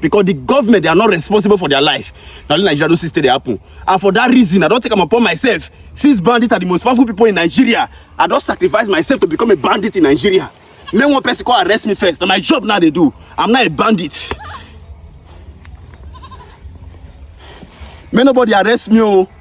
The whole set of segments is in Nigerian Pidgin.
because the government they are not responsible for their life na only nigeria those things still dey happen and for that reason i don take am upon myself since bandits are the most powerful people in nigeria i don sacrifice myself to become a bandit in nigeria make one person come arrest me first na my job now dey do i'm not a bandit make nobody arrest me o. Oh.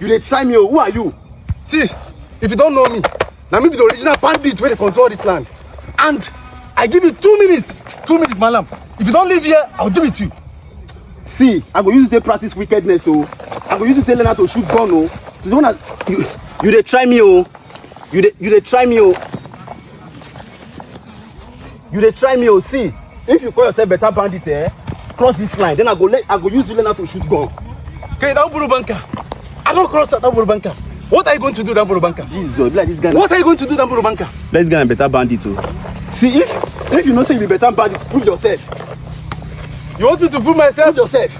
You dey try me o, who are you? See, if you don't know me, na me be the original bandit wey dey control this land. And I give you two minutes, two minutes, malam. If you don't leave here, I'll deal with you. See, I go use dey practice wickedness o. I go use you take learn how to shoot gun o. To the one as you you dey try me o. You dey you dey try me o. you dey try me o see if you call yourself better bandit eh cross this line then i go let i go use you learn how to shoot gun. okay don buru banka i don cross that don buru banka what are you going to do don buru banka. jesus be like this guy. what are you going to do don buru banka. this guy na better bandit o. Oh. see if if you know say you be better bandit prove yourself. you want me to prove myself. prove yourself.